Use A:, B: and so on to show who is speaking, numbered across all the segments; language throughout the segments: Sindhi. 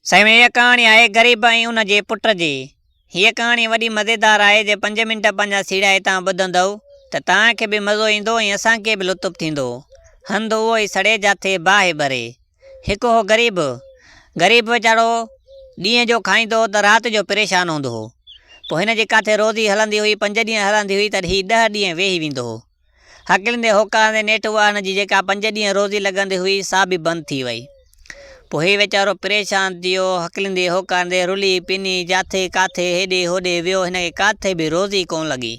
A: سائين هيء ڪهاڻي آهي غريب ۽ ان جي پٽ جي. هيء ڪهاڻي وڏي مزيدار آهي جي پنج منٽ پنهنجا سيڙهيا هتان ٻڌندؤ ته توهان کي به مزو ايندو ۽ اسان کي به لطف ٿيندو. هنڌ اهو ئي سڙي جاٿي باهه ٻري. هڪ هو غريب. غريب ويچارو ڏينهن جو کائيندو هو ته رات جو پريشان هوندو هو. پوء هن جي ڪاٿي روزي هلندي هئي پنج ڏينهن هلندي هئي ته هي ڏهه ڏينهن ويهي ويندو هو. هڪلندي هوڪارندي نيٺ اها هن جي جيڪا پنج ڏينهن روزي لڳندي هئي سا به بند ٿي وئي. پوء هي ويچارو پريشان ٿي ويو، هڪلندي هوڪارندي رلي پني جاٿي ڪاٿي هيڏي هوڏي ويو هن کي ڪاٿي به روزي ڪونه لڳي.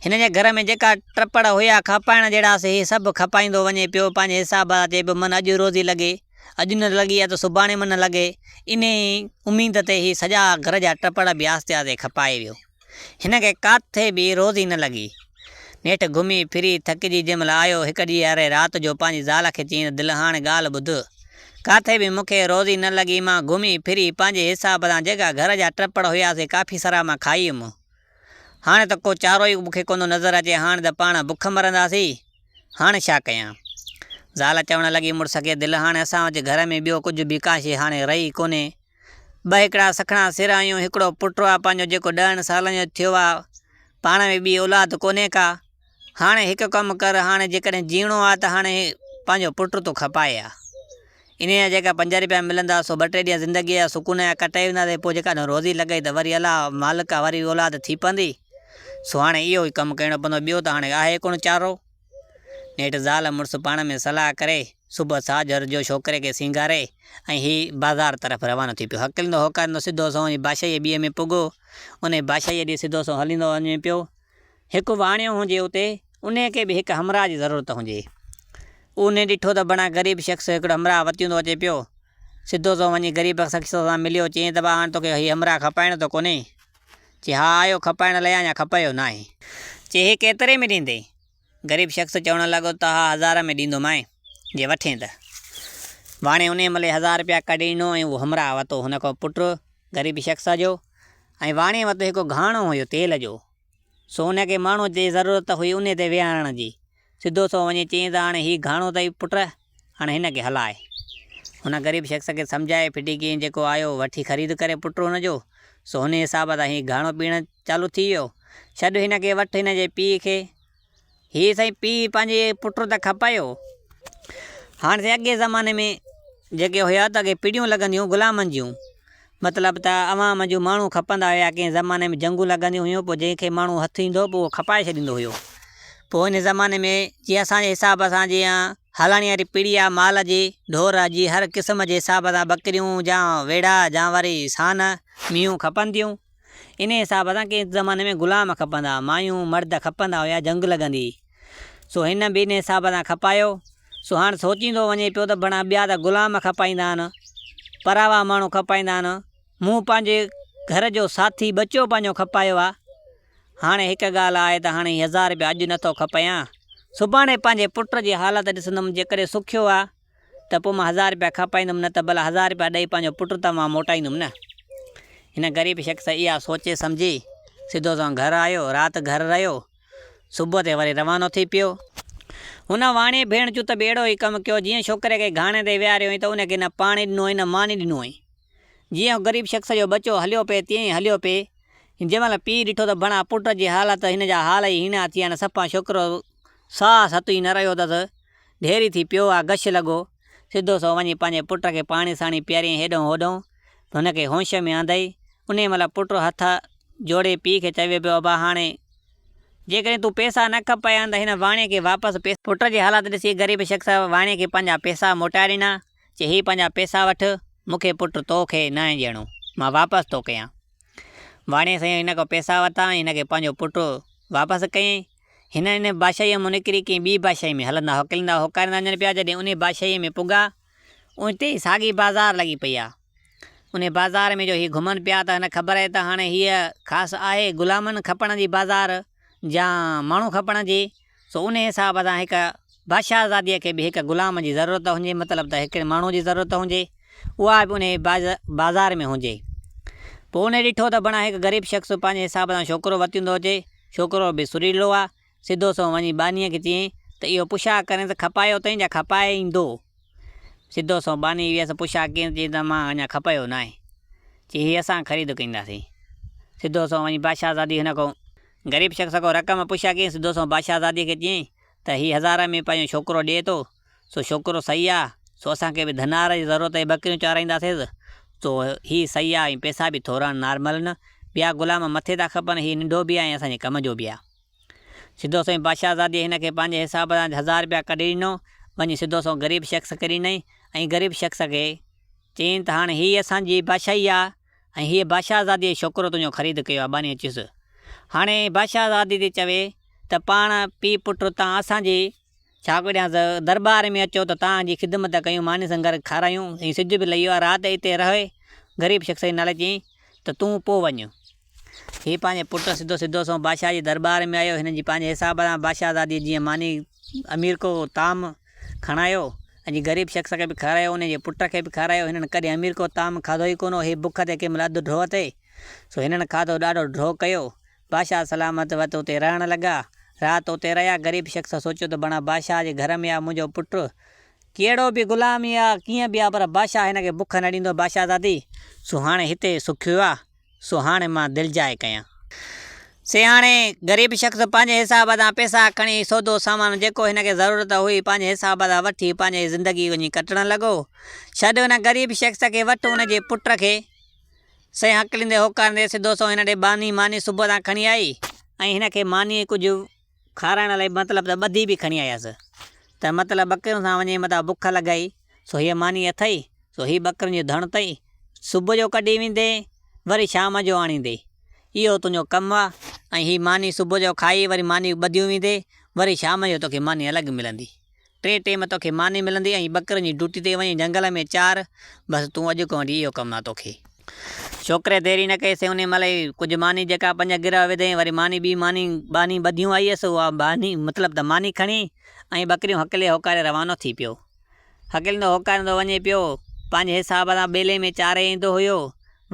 A: هن جي گهر ۾ جيڪا ٽپڙ هيا کپائڻ جهڙا سي هي سڀ کپائيندو وڃي پيو پنهنجي حساب سان چئي پيو من اڄ روزي لڳي اڄ نه لڳي ها ته سڀاڻي من لڳي انهي اميد تي هي سڄا گهر جا ٽپڙ به آهستي آهستي کپائي ويو. هن کي ڪاٿي به روزي نه لڳي. نيٺ گهمي ڦري ٿڪجي جنهن مهل آيو، هڪ ڏينهن يارهين رات جو پنهنجي زال کي چيائين ته دل هاڻ ڳالهه ٻڌ. ڪاٿي به مون کي روزي نه لڳي، مان گهمي ڦري پنهنجي حساب سان جيڪا گهر جا ٽپڙ هيا سي ڪافي سرا مان کائي ويم. هاڻ ته ڪو چارو ئي مون کي ڪونه نظر اچي، هاڻ ته پاڻ بک مرنداسين. هاڻ ڇا ڪيان؟ زال چوڻ لڳي مڙس کي دل هاڻ اسان وٽ گهر ۾ ٻيو ڪجهه به ڪا شيء هاڻي رهي ئي ڪونهي. ٻه هڪڙا سکڻا سر آهيون، هڪڙو پٽ آ پنهنجو جيڪو ڏهن سالن جو ٿيو آ، پاڻ ۾ ٻي اولاد ڪونهي ڪا، هاڻي هڪ ڪم ڪر هاڻي جيڪڏهن جيئڻو آ ته هاڻي پنهنجو پٽ تون کپائي آ، انهيء جا جيڪا پنج رپيا ملندا سو ٻه ٽي ڏينهن زندگيء جا سڪون جا ڪٽائي وينداسين، پوء جيڪڏهن روزي لڳئي ته وري الله مالڪ آ وري اولاد ٿي پوندي، سو هاڻي اهو ئي ڪم ڪرڻو پوندو، ٻيو ته هاڻي آهي ڪونه چارو. نيٺ زال مڙس پاڻ ۾ صلاح ڪري صبح ساجهر جو ڇوڪري کي سينگاري ۽ هي بازار طرف روانو ٿي پيو. هڪليندو هوڪاريندو سڌو سنئون وڃي بادشاهيء جي ٻيئي ۾ پڳو. انهيء بادشاهيء ڏي سڌو سنئون هليندو وڃي پيو. هڪ واڻيو هجي اتي انهيء کي به هڪ همراهه جي ضرورت هجي. انهيء ڏٺو ته بڻا غريب شخص هڪڙو همراهه وتيندو اچي پيو. سڌو سنئون وڃي غريب شخص سان مليو. چيائين ته ڀاء هاڻ توکي هي همراهه کپائڻو ته ڪونهي؟ چي ها آيو کپائڻ لئي اڃا کپايو ناهي. چي هي ڪيتري ۾ ڏيندين؟ غريب شخص چوڻ لڳو ته ها هزار ۾ ڏيندومانء جي وٺين ته. واڻي انهيء ملي هزار رپيا ڪڍي ڏنو ۽ اهو همراهه وتو هن کان پٽ غريب شخص جو ۽ واڻي وٽ هڪ گهاڻو هيو تيل جو سو ان کي ماڻهوء جي ضرورت هئي انهيء تي ويهارڻ جي سڌو سو وڃي چيائين ته هاڻي هي گهاڻو اٿئي پٽ، هاڻي هن کي هلاء. هن غريب شخص کي سمجهائي ڦٽي ڪيائين، جيڪو آيو وٺي خريد ڪري پٽ هن جو، سو هن حساب سان هي گهاڻو پيئڻ چالو ٿي ويو. ڇڏ هن کي، وٺ هن جي پيء کي. هي سائين پيء پنهنجي پٽ ته کپايو. هاڻي سائين اڳئين زماني ۾ جيڪي هيا ته اڳي پڙيون لڳنديون غلامن جون. مطلب ته عوام جون ماڻهو کپندا هيا ڪنهن زماني ۾ جنگون لڳنديون هيون پوء جنهن کي ماڻهو هٿ ايندو هو پوء اهو کپائي ڇڏيندو هيو پوء هن زماني ۾ جي اسان جي حساب سان جي هلڻي واري پيڙهي آ مال جي ڍور جي هر قسم جي حساب سان ٻڪريون جا ويڙها جا وري سان مينهون کپن ٿيون انهي حساب سان ڪنهن زماني ۾ غلام کپندا مايون مرد کپندا هيا جنگ لڳندي سو هن به انهي حساب سان کپايو. سو هاڻ سوچيندو وڃي پيو ته بڻا ٻيا ته غلام کپائيندا آهن، پراوا ماڻهو کپائيندا آهن، مون پنهنجي گهر جو ساٿي ٻچو پنهنجو کپايو آهي. هاڻي هڪ ڳالهه آهي ته هاڻي هي هزار رپيا اڄ نه ٿو کپايان، سڀاڻي پنهنجي پٽ جي حالت ڏسندم، جيڪڏهن سکيو آهي ته پوء مان هزار رپيا کپائيندم نه ته ڀلا هزار رپيا ڏئي پنهنجو پٽ ته مان موٽائيندم نه. هن غريب شخص اها سوچي سمجهي سڌو سنئون گهر آيو، رات گهر رهيو. صبح تي وري روانو ٿي پيو. هن واڻيي ڀيڻ جون ته ڀيڙو ئي ڪم ڪيو، جيئن ڇوڪري کي گهاڻي تي ويهاريو هئين ته ان کي نه پاڻي ڏنو هئين نه ماني ڏنو هئين. جيئن هو غريب شخص جو ٻچو هليو پئي تيئن ئي هليو پئي. جنهن مهل پيء ڏٺو ته ڀڻا پٽ جي حالت هن جا حال ئي هيڻا ٿي ويا آهن. صفا ڇوڪرو ساهه ستو ئي نه رهيو اٿس. ڍيري ٿي پيو آهي. غش لڳو. سڌو سو وڃي پنهنجي پٽ کي پاڻي ساڻي پياريائين هيڏهون هوڏهون ته هن کي هوش ۾ آندئي. انهيء مهل پٽ هٿ جوڙي پيء کي چوي پيو ابا هاڻي جيڪڏهن تون پئسا نه کپيان ته هن واڻيي کي واپس پئسا. پٽ جي حالت ڏسي غريب شخص واڻيي کي پنهنجا پئسا موٽائي ڏنا. چي هي پنهنجا پئسا وٺ، مون کي پٽ تو کي ناهي ڏيڻو، مان واپس ٿو ڪيان. واڻيي سائين هن کان پئسا ورتا ۽ هن کي پنهنجو پٽ واپس ڪيائين. هن انهيء بادشاهيء مان نڪري ڪنهن ٻيء بادشاهيء ۾ هلندا هڪلندا هوڪاريندا وڃن پيا، جڏهن انهيء بادشاهيء ۾ پڳا، اوچتي ئي ساڳي بازار لڳي پئي آ. انهيء بازار ۾ جو هي گهمن پيا ته هن خبر آهي ته هاڻي هيء خاص آهي غلامن کپڻ جي بازار جيان ماڻهو کپڻ جي، سو انهيء حساب سان هڪ بادشاهه آزاديء کي به هڪ غلام جي ضرورت هجي، مطلب ته هڪڙي ماڻهوء جي ضرورت هجي، اها به انهيء بازار ۾ هجي. پوء هن ڏٺو ته بڻا هڪ غريب شخص پنهنجي حساب سان ڇوڪرو ورتيندو اچي. ڇوڪرو به سريلو آ. سڌو سنئون وڃي ٻانهيء کي چيائين ته اهو پشا ڪرين ته کپائي اتئين جا کپائيندو. سڌو سنئون ٻانهي ويس پشا ڪين ته چيائين ته مان اڃا کپايو ناهي. چي هي اسان خريد ڪينداسين. سڌو سنئون وڃي بادشاهه آزاديء هن کان غريب شخص کان رقم پشا ڪيائين. سڌو سنئون بادشاهه آزاديء کي چيائين ته هي هزاره ۾ پنهنجو ڇوڪرو ڏئي ٿو، سو ڇوڪرو سهي آ، سو اسان کي به ڌنار جي ضرورت هي ٻڪريون چارائينداسيس، سو هي سهي آ ۽ پئسا به ٿورا نارمل آهن، ٻيا غلام مٿي ٿا کپن، هي ننڍو به آ ۽ اسان جي ڪم جو به آ. سڌو سنئون بادشاهه زادي هن کي پنهنجي حساب سان هزار رپيا ڪڍي ڏنو، وڃي سڌو سنئون غريب شخص کي ڏنائين ۽ غريب شخص کي چيائين ته هاڻ هي اسان جي بادشاهي آ، ۽ هيء بادشاهزاديء جو ڇوڪرو تنهنجو خريد ڪيو آهي ٻانهيء چيس، هاڻي بادشاهزادي ٿي چوي ته پاڻ پيء پٽ تان اسان جي ڇا وڙهيانس، درٻار ۾ اچو ته تان جي خدمت ڪيون، ماني سنگر کارايون ۽ سج به لهيو آهي، رات اتي رهه، غريب شخص جي نالي چيائين ته تون پوء وڃ. هيء پنهنجي پٽ سڌو سڌو سنئون بادشاهه جي درٻار ۾ آيو، هن جي پنهنجي حساب سان بادشاهزاديء جيئن ماني امير ڪو طعام، کڻايو ۽ غريب شخص کي به کارايو انهيء جي پٽ کي به کارايو هنن ڪڏهن امير ڪو طعام کاڌو ئي ڪونه هو هي بک تي ڪنهن مهل اڌ ڍوء تي سو هنن کاڌو ڏاڍو ڍوء ڪيو بادشاهه سلامت وت اتي رهڻ لڳا رات اتي رهيا غريب شخص سوچيو ته بڻا بادشاهه جي گهر ۾ آ منهنجو پٽ ڪهڙو به غلام ئي آ ڪيئن به آ پر بادشاهه هن کي بک نه ڏيندو بادشاهزادي سو هاڻي هتي سکيو آ سو هاڻي مان دلجائي ڪيان. سياڻي غريب شخص پنهنجي حساب تان پئسا کڻي سودو سامان جيڪو هن کي ضرورت هئي پنهنجي حساب تان وٺي پنهنجي زندگي وڃي ڪٽڻ لڳو. ڇڏ ان غريب شخص کي وٺ ان جي پٽ کي. سيان هڪليندي هوڪاريندي سڌو سنئون هن ڏي باني ماني صبح تان کڻي آئي ۽ هن کي ماني ڪجهه کارائڻ لئي مطلب ته ٻڌي به کڻي آيس، ته مطلب ٻڪرين سان وڃي متان بک لڳائي، سو هيء ماني اٿئي، سو هي ٻڪرين جو ڌڻ اٿئي، صبح جو ڪڍي ويندي، وري شام جو آڻيندي، اهو تنهنجو ڪم آ، ۽ هي ماني صبح جو کائي، وري ماني ٻڌيون ويندي، وري شام جو توکي ماني الڳ ملندي، ٽئين ٽيم توکي ماني ملندي ۽ ٻڪرن جي ڊوٽي تي وڃي جنگل ۾ چار بس تون اڄ کان وٺي اهو ڪم نه توکي. ڇوڪري دير ئي نه ڪئي سي انهي مهل ئي ڪجهه ماني جيڪا پنج گرهه وڌيائين وري ماني ٻي ماني ٻانهي ٻڌيون آئي هيس اها ٻانهي مطلب ته ماني کڻي ۽ ٻڪريون هڪلي هوڪاري روانو ٿي پيو هڪليندو هوڪاريندو وڃي پيو پنهنجي حساب سان ٻيلي ۾ چاري ايندو هيو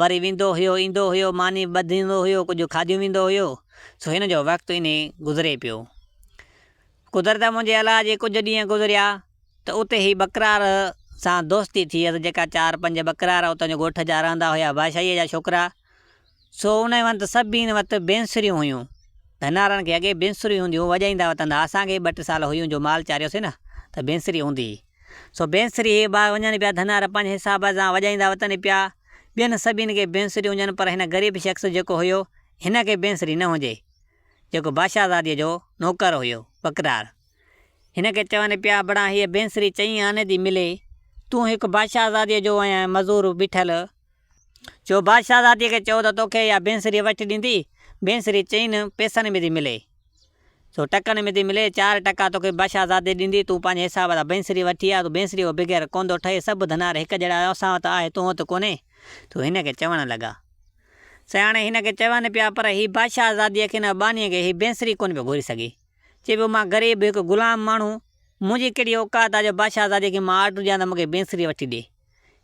A: وري ويندو هيو ايندو هيو ماني ٻڌيندو هيو ڪجهه کاڌيون ويندو هيو سو هن جو وقت انهي گذري پيو قدرت منهنجي الله جي ڪجهه ڏينهن گذريا ته اتي هي ٻڪرار سان دوستي ٿيس، جيڪا چار پنج ٻڪرار اتان جو ڳوٺ جا رهندا هيا بادشاهيء جا ڇوڪرا، سو انهي وند سڀني وٽ بينسريون هيون، ڌنارن کي اڳي بينسريون هونديون، وڄائيندا وتن ها اسان کي به ٻه ٽي سال هيون جو مال چاريوسين نه ته بينسري هوندي هئي، سو بينسري هي باهه وڃن پيا ڌنار پنهنجي حساب سان وڄائيندا وتن پيا، ٻين سڀني کي بينسريون هجن پر هن غريب شخص جيڪو هيو هن کي بينسري نه هجي. جيڪو بادشاهزاديء جو نوڪر هيو، بڪرار، هن کي چون پيا، بڙا هيء بينسري چئين آني ٿي ملي، تون هڪ بادشاهزاديء جو ۽ مزور بيٺل، جو بادشاهزاديء کي چئو ته توکي اها بينسري وٺي ڏيندي، بينسري چئين پيسن ۾ ٿي ملي، سو ٽڪن ۾ ٿي ملي، چار ٽڪا توکي بادشاهزادي ڏيندي، تون پنهنجي حساب سان بينسري وٺي آ، تون بينسريء کان بغير ڪونه ٿو ٺهين، سڀ ڌنار هڪ جهڙا آهيون، اسان وٽ آهي، تون وٽ ڪونهي، سو هن کي چوڻ لڳا. سياڻي هن کي چون پيا، پر هي بادشاهه آزاديء کي نه اٻانيء کي هي بينسري ڪونه پيو گهوري سگهي. چئي پيو، مان غريب هڪ غلام ماڻهو، منهنجي ڪهڙي اوقات آ جو بادشاهه آزاديء کي مان آرڊر ڏيان ته مون کي بينسري وٺي ڏي.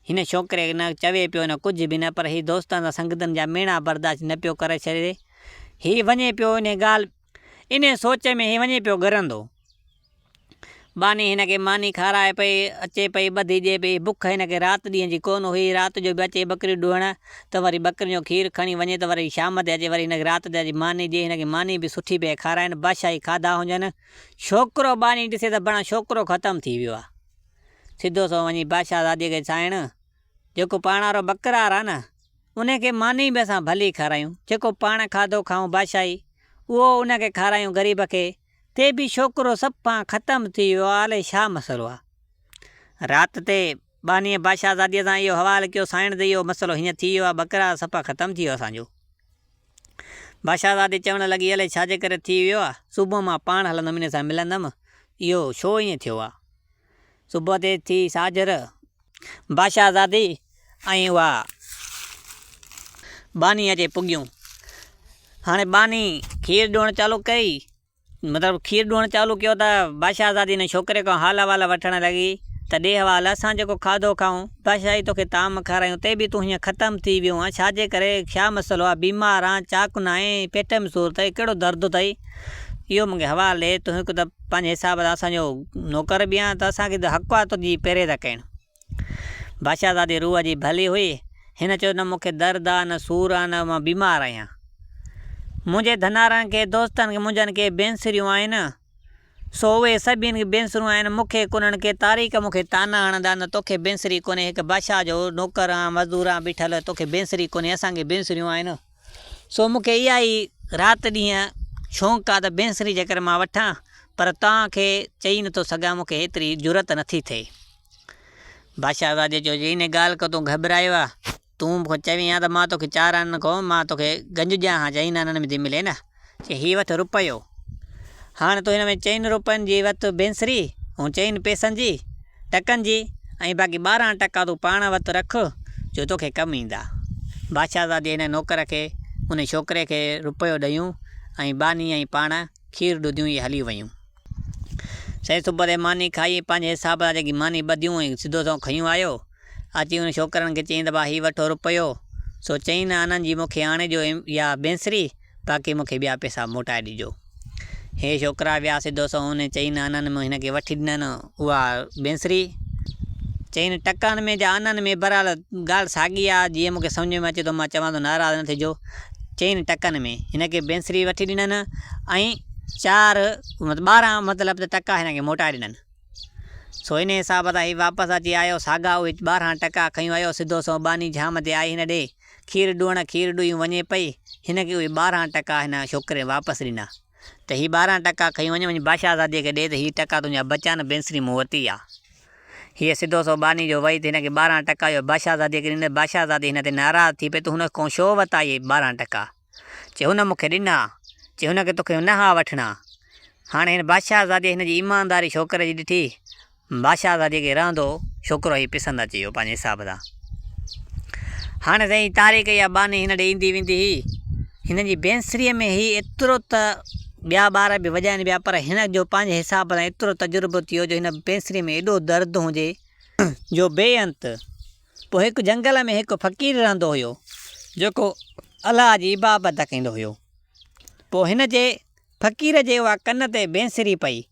A: هن ڇوڪري نه چوي پيو نه ڪجهه به نه پر هي دوستن سان سنگتن جا ميڻا برداشت نه پيو ڪري ڇڏي. هي وڃي پيو انهي ڳالهه. انهي سوچ ۾ هي وڃي پيو ڳرندو. ٻانهي هن کي ماني کارائي پئي، اچي پئي ٻڌي ڏئي پئي. بک هن کي رات ڏينهن جي ڪونه هئي. رات جو به اچي ٻڪريون ڏوهڻ ته وري ٻڪرين جو کير کڻي وڃي ته وري شام تي اچي وري هن کي رات تي اچي ماني ڏئي. هن کي ماني به سٺي پئي کارائين، بادشاهي کاڌا هجن. ڇوڪرو ٻانهي ڏسي ته بڻ ڇوڪرو ختم ٿي ويو آ. سڌو سنئون وڃي بادشاهه زادي کي سائڻ! جيڪو پاڻوارو ٻڪرار آ نه، انهي کي ماني به اسان ڀلي کارايون. جيڪو پاڻ کاڌو کائون بادشاهي، اهو ان کي کارايون غريب کي. تي به ڇوڪرو سڀ کان ختم ٿي ويو آ الائي ڇا مسئلو آ. رات تي ٻانهيء بادشاهه زاديء سان اهو حوال ڪيو سائڻ ته اهو مسئلو هيئن ٿي ويو آ ٻڪرا سپا ختم ٿي ويو اسان جو. بادشاهه زادي چوڻ لڳي الائي ڇا جي ڪري ٿي ويو آ صبح مان پاڻ هلندم انهي سان ملندم اهو ڇو ايئن ٿيو آ. صبح تي ٿي ساجهر، بادشاهه زادي ۽ اها ٻانهي اچي پڳيون. هاڻي ٻانهي کير ڏيڻ چالو ڪئي، مطلب کير ڏيڻ چالو ڪيو ته بادشاهه زادي ان ڇوڪري کان حال احوال وٺڻ لڳي ته ڏي حوال، اسان جيڪو کاڌو کائون، بادشاهي توکي طعام کارايون تي به تون هيئن ختم ٿي ويو آهين، ڇاجي ڪري، ڇا مسئلو آهي، بيمار آهن، چاڪ ناهين، پيٽ ۾ سور اٿئي، ڪهڙو درد اٿئي، اهو مونکي حوال ڏي، تون هڪ ته. پنهنجي حساب سان اسان جو نوڪر به آهن ته اسان کي حق آهي تنهنجي پهري ٿا ڪيون. بادشاهه زادي روح جي ڀلي هئي. هن چيو، نه مون کي درد آهي، نه سور آهي، نه مان بيمار آهيان. منهنجي ڌنارن کي، دوستن کي منهنجن ڪي بينسريون آهن، سو اهي سڀني کي بينسريون آهن، مون کي ڪونهن ڪي تاريڪ مون کي طعنا هڻندا نه تو کي بينسري ڪونهي، هڪ بادشاهه جو نوڪر آهن، مزدور آهن، بيٺل، تو کي بينسري ڪونهي، اسان کي بينسريون آهن. سو مون کي اها ئي رات ڏينهن شونق آ ته بينسري جيڪر مان وٺان پر توهان کي چئي نٿو سگهان مون کي ايتري جرئت نٿي ٿئي. بادشاهه زادي چيو جي انهي ڳالهه کان تون گهٻرايو آ تون مون کان چوين ها ته مان توکي چاران نه کان مان توکي گنج ڏيان ها جئين نانن ۾ ٿي ملين ها چي هي وٺ روپيو. هاڻ تون هن ۾ چئن روپين جي وت بينسري، هون چئن پئسن جي، ٽڪن جي، ۽ باقي ٻارهن ٽڪا تون پاڻ وت رک، جو توکي ڪم ايندا. بادشاهزادي هن نوڪر کي، انهي ڇوڪري کي روپيو ڏنيون، ۽ ٻانهي ۽ پاڻ کير ڏڌيون ۽ هلي ويون. سائين صبح تي ماني کائي ۽ پنهنجي حساب سان جيڪي ماني ٻڌيون ۽ سڌو سنئون کنيون آيو. اچي هن ڇوڪرن کي چيائين ته ڀاء هي وٺو رپيو. سو چيائين نه آنند جي مون کي آڻي ڏيو اها بينسري، باقي مون کي ٻيا پئسا موٽائي ڏجو. هي ڇوڪرا ويا سڌو سنئون هن چيائين نه آنند مون هن کي وٺي ڏنن. اها بينسري چين ٽڪان ۾ جا آنن ۾ برحال ڳالهه ساڳي آ جيئن مونکي سمجهه ۾ اچي ٿو مان چوان ٿو ناراض نه ٿجو چين ٽڪن ۾ هن کي بينسري وٺي ڏنن ۽ چار ٻارهن مطلب ته ٽڪا هن کي موٽائي ڏنن سو ان حساب سان هي واپس اچي آيو ساڳا اهي ٻارهن ٽڪا کيون آيو سڌو سنئون ٻانهي جهام تي آئي هن ڏي کير ڏوئڻ کير ڏوئي هو وڃي پئي هن کي اهي ٻارهن ٽڪا هن ڇوڪري واپس ڏنا ته هي ٻارهن ٽڪا کڻي وڃ، وڃي باشهزاديء کي ڏي ته هي ٽڪا تنهنجا بچيا نه بينسري مون وٽ ئي آ. هيء سڌو سنئون ٻانهي جو ويئي ته هن کي ٻارهن ٽڪا اهي باشهزاديء کي ڏنس. باشهزادي هن تي ناراض ٿي پئي ته هن ڪئون ڇو وتا اهي ٻارهن ٽڪا؟ چي هن مون کي ڏنا. چي هن کي تو کي نه ها وٺڻا. هاڻي هن باشهزاديء هن جي ايمانداري ڇوڪري جي ڏٺي. بادشاهه سان جيڪي رهندو ڇوڪرو هي پسند اچي ويو پنهنجي حساب سان. هاڻي سائين طارق اها ٻانهي هن ڏي ايندي ويندي هئي. هن جي بينسريء ۾ هي ايترو ته ٻيا ٻار به وڄائين پيا پر هن جو پنهنجي حساب سان ايترو تجربو ٿيو جو هن بينسريء ۾ ايڏو درد هجي جو بي انت. پوء هڪ جنگل ۾ هڪ فقير رهندو هيو جيڪو الله جي عبادت ڪندو هيو. پوء هن جي فقير جي اها ڪن تي بينسري پئي.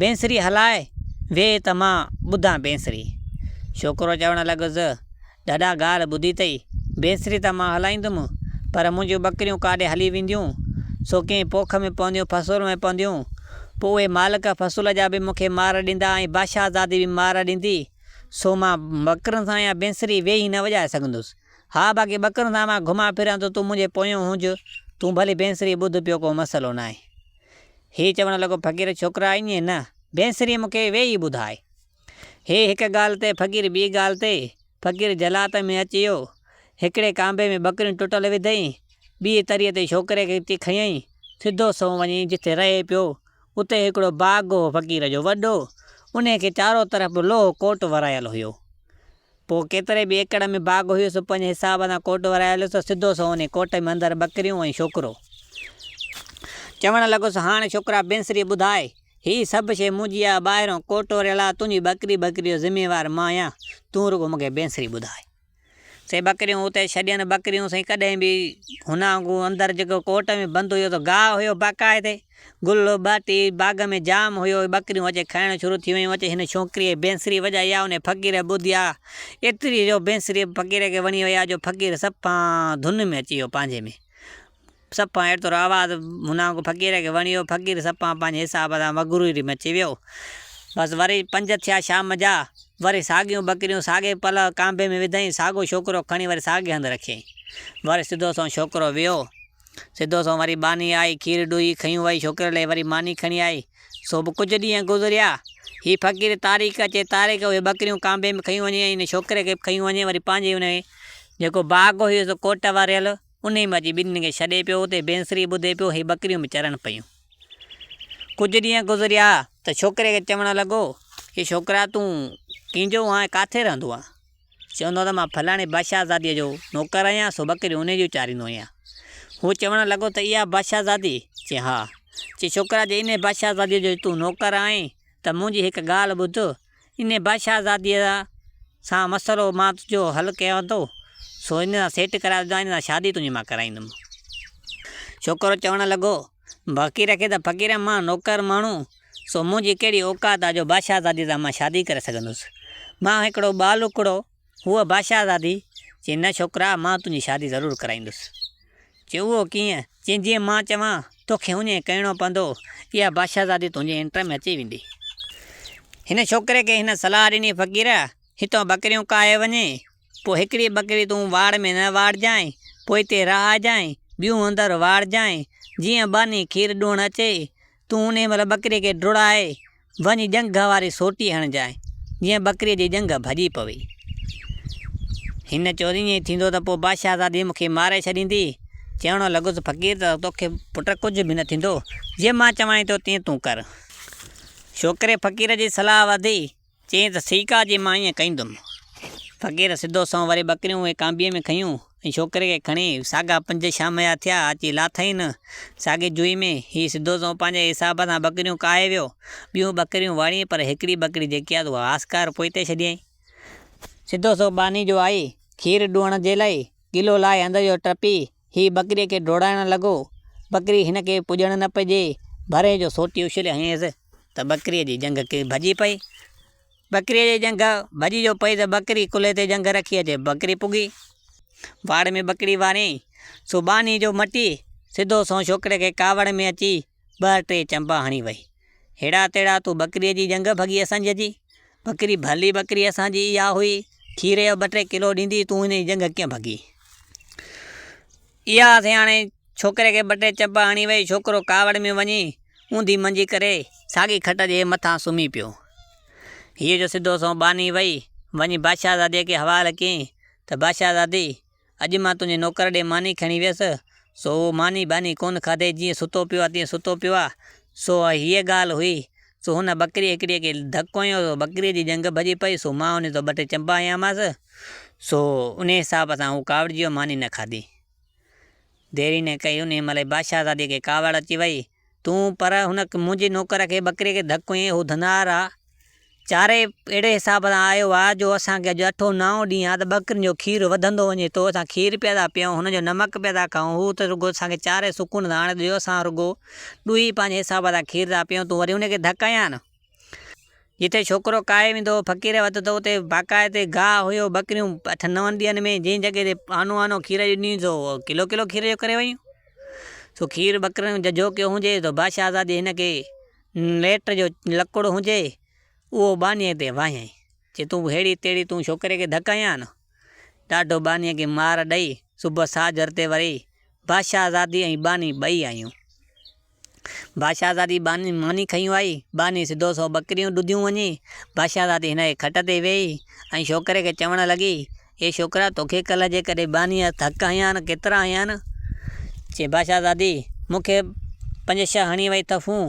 A: بينسري هلاء ويهه ته مان ٻڌان بينسري. ڇوڪرو چوڻ لڳس، ڏاڏا ڳالهه ٻڌي اٿئي، بينسري ته مان هلائيندم، پر منهنجون ٻڪريون ڪاڏي هلي وينديون؟ سو ڪنهن پوک ۾ پونديون، فصول ۾ پونديون؟ پوء اهي مالڪ فصول جا به مون کي مار ڏيندا ۽ بادشاهزادي به مار ڏيندي. سو مان ٻڪرين سان يا بينسري ويهي نه وڄائي سگهندس. ها باقي ٻڪرين سان مان گهمان ڦران ته تون منهنجي پويان هونج، تون ڀلي بينسري ٻڌ پيو ڪو مسئلو ناهي. هي چوڻ لڳو، فقير ڇوڪرا ائين نه، بينسري مون کي ويهي ٻڌاء. هي هڪ ڳالهه تي فقير ٻي ڳالهه تي، فقير جهلات ۾ اچي ويو، هڪڙي ڪانڀي ۾ ٻڪريون ٽٽل وڌيئين، ٻيء تري تي ڇوڪري کي اچي کنيئين، سڌو سنئون وڃي جتي رهي پيو، اتي هڪڙو باغ هو فقير جو وڏو، انهي کي چارو طرف به لوهه ڪوٽ ورايل هيو. پوء ڪيتري به ايڪڙ ۾ باغ هيو، سو پنهنجي حساب سان ڪوٽ ورايولس ته سڌو سو انهيء ڪوٽ ۾ اندر ٻڪريون ۽ شوڪرو. چوڻ لڳس، هاڻ شوڪرا بينسريء ٻڌاء، هي سڀ شيء منهنجي آ، ٻاهرئون ڪوٽ وريل آ، تنهنجي ٻڪري ٻڪري جو ذميوار مان آهيان، تون رڳو مون کي بينسري ٻڌاء. سي ٻڪريون اتي ڇڏين، ٻڪريون سائين ڪڏهن به هن وانگو اندر جيڪو ڪوٽ ۾ بند هيو، سو گاهه هيو باقاعدي. گل ٻاٽي باغ ۾ جام هيو، ٻڪريون اچي کائڻ شروع ٿي ويون، اچي هن ڇوڪريء بينسري وڄائي آ، انهيء فقير ٻڌي آ، ايتري جو بينسري به فقير کي وڻي وئي آ، جو فقير صفان ڌن ۾ اچي ويو پنهنجي ۾، صفان ايترو آواز هن وانگو فقير کي وڻي ويو، فقير صفان پنهنجي حساب سان مغروري ۾ اچي ويو، بس وري پنج ٿيا شام جا، وري ساڳيون ٻڪريون ساڳئي پل ڪانڀي ۾ وڌائين، ساڳيو ڇوڪرو کڻي وري ساڳئي هنڌ رکيائين، وري سڌو سنئون ڇوڪرو ويو، سڌو سنئون وري ٻانهي آئي، کير ڏوهي کنيون وهي ڇوڪري لئي وري ماني کڻي آئي، سو به ڪجهه ڏينهن گذريا. هي فقير تاريخ اچي تاريخ اهي ٻڪريون ڪانڀي ۾ کنيون وڃي ۽ ان ڇوڪري کي به کنيون وڃي وري پنهنجي ان جيڪو باغ هيس ڪوٽ وريل انهي ۾ اچي ٻنين کي ڇڏي پيو اتي بينسري ٻڌي پيو هي ٻڪريون به چرن پيون. ڪجهه ڏينهن گذريا ته ڇوڪري کي چوڻ لڳو، اي ڇوڪرا تون ڪينجهو هون ۽ ڪاٿي رهندو آهين؟ چوندو ته مان فلاڻي بادشاهزاديء جو نوڪر آهيان، سو ٻڪريون انهيء جون چاريندو آهيان. هو چوڻ لڳو ته اها بادشاهزادي؟ چي ها. چي ڇوڪرا جي انهيء بادشاهزاديء جو تون نوڪر آهين ته منهنجي هڪ ڳالهه ٻڌ، انهيء بادشاهزاديء سان مسئلو مان تنهنجو حل ڪيان ٿو، سو انهيء سان سيٽ ڪرائي ڏيندومانء، انهيء سان شادي تنهنجي مان ڪرائيندومانء. ڇوڪرو چوڻ لڳو. باقي رکي ته فقير مان نوڪر ماڻهو، سو منهنجي ڪهڙي اوقات آ جو بادشاهزاديء سان مان شادي ڪري سگهندس. مان هڪڙو ٻالڪڙو، هوء بادشاهزادي، چي نه ڇوڪرا، مان تنهنجي شادي ضرور ڪرائيندس. چي اهو ڪيئن؟ چي جيئن مان چوان، توکي هونئن ئي ڪرڻو پوندو، اها بادشاهزادي تنهنجي انٽر ۾ اچي ويندي. هن ڇوڪري کي هن صلاح ڏني فقير، هتان ٻڪريون ڪاهي وڃي، پوء هڪڙي ٻڪري تون واڙ ۾ نه واڙجانء، پوء هتي رهائجانء، ٻيون اندر واڙجانء، جيئن ٻانهي کير ڏوهڻ اچي، تون انهيء مهل ٻڪريء کي ڊوڙائي، وڃي ڄنگهه واري سوٽي هڻجانء، جيئن ٻڪريء جي ڄنگهه ڀڄي پوي. هن چيو ته ائين ٿيندو ته پوء بادشاهزادي مون کي ماري ڇڏيندي. چوڻ لڳس، فقير ته توکي پٽ ڪجهه به نه ٿيندو، جيئن مان چوانء ٿو تيئن تون ڪر. ڇوڪري فقير جي صلاح وڌي. چيائين ته سيڪا جي مان ائين ڪيندم. فقير سڌو سنئون وري ٻڪريون اهي ڪانبيء ۾ کنيون ۽ ڇوڪري کي کڻي ساڳا پنج شام جا ٿيا اچي لاٿائين ساڳي جوئي ۾. هي سڌو سنئون پنهنجي حساب سان ٻڪريون ڪاهي ويو. ٻيون ٻڪريون واڙيائين پر هڪڙي ٻڪري جيڪي آس اها آسڪار پوئتي ڇڏيائين. سڌو سنئون ٻانهي جو آئي کير ڏوهڻ جي لاء ڪلهو لاهي هنڌ جو ٽپي هي ٻڪريء کي ڊوڙائڻ لڳو. ٻڪري هن کي پڄڻ نه پئي ڏئي. ڀرين جو سوٽي اڇلي هنيس ته ٻڪريء جي ڄنگهه ڪري ڀڄي پئي. ٻڪريء جي ڄنگهه ڀڄي جو پئي ته ٻڪري ڪلهي تي ڄنگهه رکي اچي ٻڪري پڳي واڙ ۾ ٻڪري واريائين سو ٻانهي جو مٽي سڌو سنئون ڇوڪري کي ڪاوڙ ۾ اچي ٻه ٽي چنبا هڻي وئي. هيڙا تيڙا تون ٻڪريء جي ڄنگهه ڀڳي اسنج جي. ٻڪري ڀلي ٻڪري اسان جي اها هئي. کير جو ٻه ٽي ڪلو ڏيندي تون هن جي ڄنگهه ڪيئن ڀڳي. اها سياڻي ڇوڪري کي ٻه ٽي چنبا هڻي وئي. ڇوڪرو ڪاوڙ ۾ وڃي اونڌي منجي ڪري ساڳي کٽ جي مٿان سمهي پيو. هيء جو سڌو سنئون ٻانهي وئي وڃي بادشاهزاديء کي حوالي ڪيائين ته بادشاهزادي! اڄ مان تنهنجي نوڪر ڏي ماني کڻي ويس، سو اهو ماني ٻاني ڪونه کاڌي، جيئن ستو پيو آهي، تيئن ستو پيو آهي. سو اها هيء ڳالهه هئي. سو هن ٻڪريء هڪڙيء کي ڌڪ هنيو، سو ٻڪريء جي ڄنگهه ڀڄي پئي، سو مان هن تان ٻه ٽي چنبا هنيامانس، سو انهيء حساب سان هو ڪاوڙجي ويو، ماني نه کاڌي. ديري نه ڪئي انهيء مهل ئي بادشاهزاديء کي ڪاوڙ اچي ويئي. تون پر هن منهنجي نوڪر کي ٻڪريء کي ڌڪ هنئين، هو ڌنار آ. چاري اهڙي حساب سان آيو آ جو اسان کي اڄ اٺون نائون ڏينهن آ ته ٻڪرين جو کير وڌندو وڃي ٿو، اسان کير پيا ٿا پيئون، هن جو نمڪ پيا ٿا کائون، هو ته رڳو اسان کي چاري سڪون ٿا آڻي ڏيو، اسان رڳو ڏوهي پنهنجي حساب سان کير ٿا پيئون، تون وري انهيء کي ڌڪ هنئين. جتي ڇوڪرو ڪاهي ويندو هو، فقير وڌندو هو، اتي باقاعد گاهه هيو، ٻڪريون اٺن نون ڏينهن ۾ جنهن جڳهه تي آنو آنو کير ڏنيون سو ڪلو ڪلو کير جو ڪري ويون. سو کير ٻڪرين جو جهوڪيو هجي سو بادشاهه زادي هن کي ليٽ جو لڪڙ هجي اهو ٻانهيء تي وهيائين، چي تون ههڙي تهڙي تون ڇوڪري کي ڌڪ هنيان آنو. ڏاڍو ٻانهيء کي مار ڏئي صبح ساجهر تي وري بادشاهه زادي ۽ ٻانهي ٻئي آيون. بادشاهزادي ٻانهن ماني کنيون آئي، ٻانهي سڌو سئو ٻڪريون ڏڌيون وڃي، بادشاهزادي هن جي کٽ تي ويهي ۽ شوڪري کي چوڻ لڳي، اي شوڪرا توکي ڪلهه جيڪڏهن ٻانهي هٿ هڪ هنيان ڪيترا هنيان؟ چي بادشاهزادي مون کي پنج ڇهه هڻي وئي ٿڦون،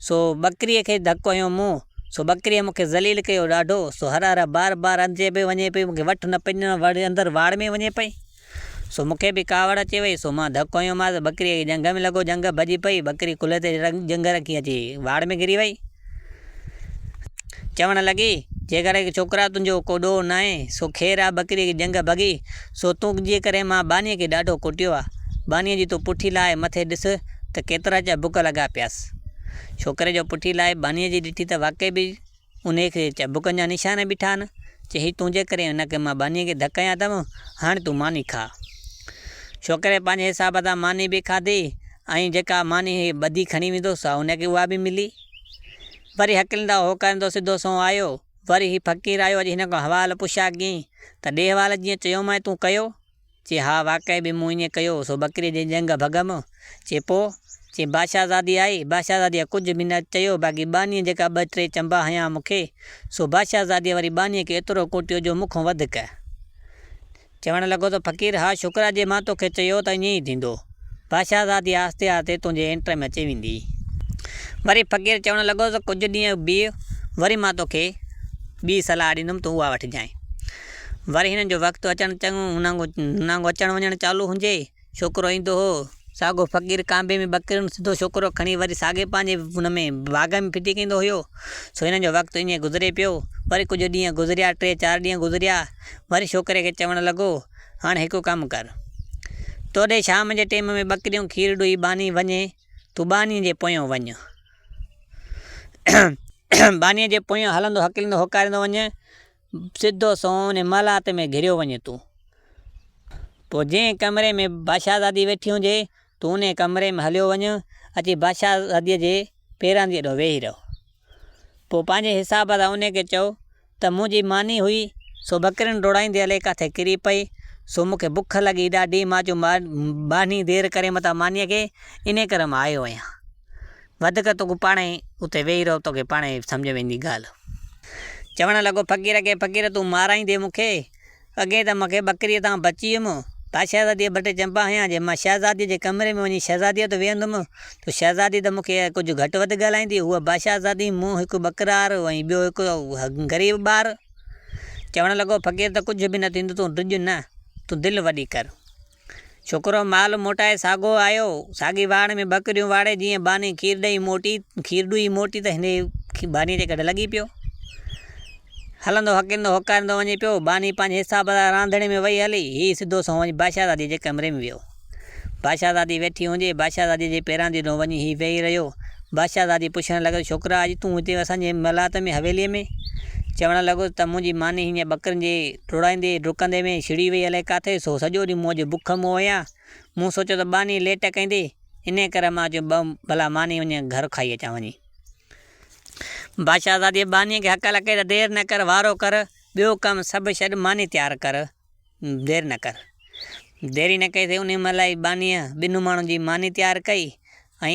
A: سو ٻڪريء کي ڌڪ هنيو مون، سو ٻڪريء مون کي ذليل ڪيو ڏاڍو، سو هر هر بار بار اندر پئي وڃي پئي مون کي وٺ نه پئي ڏنو وري اندر واڙ ۾ وڃي پئي. سو مون کي به ڪاوڙ اچي وئي، سو مان ڌڪ هنيومانس، ٻڪريء کي ڄنگهه ۾ لڳو، ڄنگهه ڀڄي پئي، ٻڪري ڪلهي تي ڄنگهه رکي اچي واڙ ۾ گهري وئي. چوڻ لڳي، جيڪڏهن اي ڇوڪرا تنهنجو ڪو ڏوهه ناهي، سو خير آ، ٻڪريء کي ڄنگهه ڀڳي، سو تنهنجي ڪري مان ٻانهيء کي ڏاڍو ڪٽيو آ، ٻانهيء جي تون پٺي لاهي مٿي ڏس ته ڪيترا چا بک لڳا پياس. ڇوڪري جو پٺي لاهي ٻانهيء جي ڏٺي ته واقعي به. انهيء کي چبڪن جا نشان به ٺاهن، چيائين، تنهنجي ڪري هن کي مان ٻانهيء کي ڌڪ هنيان اٿم، هاڻ تون ماني کاء. ڇوڪري پنهنجي حساب سان ماني به کاڌي ۽ جيڪا ماني هيء ٻڌي کڻي ويندو هو، سا هن کي اها به ملي. وري هڪلندا هوڪرندو سڌو سنئون آيو. وري هي فقير آيو، اڄ هن کان حوال پڇيا ڪيائين ته ڏي حوال جيئن چيومانء تون ڪيو؟ چي ها واقعي به مون ائين ڪيو، سو ٻڪريء جي ڄنگهه ڀڳم. چي پوء؟ چي بادشاهزادي آئي، بادشاهزاديء ڪجهه به نه چيو، باقي ٻانهيء جيڪا ٻه ٽي چنبا هنيا مون کي، سو بادشاهزاديء وري ٻانهيء کي ايترو ڪوٽيو جو مون کان وڌيڪ. چوڻ لڳو ته فقير ها شڪر آ جي مان توکي چيو ته ائين ئي ٿيندو. بادشاهزادي آهستي آهستي تنهنجي انٽر ۾ اچي ويندي. وري فقير چوڻ لڳو ته ڪجهه ڏينهن بيهه، وري مان توکي ٻي صلاح ڏيندم، تون اها وٺجانء. وري هنن جو وقت اچڻ چڱو هن وانگو اچڻ وڃڻ چالو هجي. ڇوڪرو ايندو هو. ساڳو فقير ڪانبي ۾ ٻڪريون سڌو ڇوڪرو کڻي وري ساڳي پنهنجي ان ۾ باغ ۾ ڦٽي ڪيندو هيو. سو هنن جو وقت ائين گذري پيو. وري ڪجهه ڏينهن گذريا ٽي چار ڏينهن گذريا. وري ڇوڪري کي چوڻ لڳو، هاڻ هڪ ڪم ڪر. تو ڏي شام جي ٽيم ۾ ٻڪريون کير ڏوهي ٻانهي وڃي. تون ٻانهي جي پويان وڃ. ٻانهي جي پويان هلندو هڪلندو هوڪاريندو وڃ. سڌو سنئون ان محلات ۾ گهريو وڃي ٿو. پوء جنهن ڪمري ۾ بادشاهزادي ويٺي هجي، تون انهيء ڪمري ۾ هليو وڃ، اچي بادشاهزاديء جي پيرن جي اڏو ويهي رهه. پوء پنهنجي حساب سان انهيء کي چئو ته منهنجي ماني هئي، سو ٻڪرين ڊوڙائيندي هلي ڪاٿي ڪري پئي، سو مون کي بک لڳي ڏاڍي، مان چيو ٻانهي دير ڪري متان مانيء کي، انهيء ڪري مان آيو آهيان. وڌيڪ تون پاڻ ئي اتي ويهي رهه، توکي پاڻ ئي سمجهه ۾ ايندي ڳالهه. چوڻ لڳو، فقير کي، فقير تون مارائيندين مون کي، اڳي ته مون کي ٻڪريء تان بچي ويم، ڀا شهزاديء ڀٽي چمپا هنيان، جي مان شهزاديء جي ڪمري ۾ وڃي شهزاديء وٽ ويهندم، تو شهزادي ته مون کي ڪجهه گهٽ وڌ ڳالهائيندي، هوء باشهزادي، مون هڪ ٻڪرار ۽ ٻيو هڪ غريب ٻار. چوڻ لڳو، فقير ته ڪجهه به نه ٿيندو، تون ڊڄ نه، تون دل وڏي ڪر. ڇوڪرو مال موٽائي ساڳو آيو. ساڳي واهڻ ۾ ٻڪريون واڙي جيئن ٻانهي کير ڏئي موٽي، کير ڏئي موٽي ته هن کي ٻانهي جي ڪڍ لڳي پيو. هلندو هڪيندو هوڪاريندو وڃي پيو. ٻانهي پنهنجي حساب سان راندڻي ۾ وئي هلي. هي سڌو سنئون وڃي بادشاهزاديء جي ڪمري ۾ ويو. بادشاهزادي ويٺي هوندي، بادشاهزاديء جي پيران جي ڏنو وڃي هي ويهي رهيو. بادشاهه زادي پڇڻ لڳس، ڇوڪرا اڄ تون هتي اسان جي محلات ۾ حويليء ۾؟ چوڻ لڳو ته منهنجي ماني هينئر ٻڪرين جي ڊوڙائيندي ڊڪندي ۾ ڇڙي وئي الائي ڪاٿي سو سڄو ڏينهن مون اڄ بک مئو هيان. مون سوچيو ته ٻانهي ليٽ ڪيندي انهيء ڪري مان چيو ٻه ڀلا ماني وڃي گهر کائي اچان وڃي. بادشاهه زادي ٻانهي کي هڪل ڪئي ته دير نه ڪر وارو ڪر ٻيو ڪم سڀ ڇڏ ماني تيار ڪر دير نه ڪر. ديري نه ڪئي سي انهيء مهل ئي ٻانهيء ٻنهن ماڻهن جي ماني تيار ڪئي ۽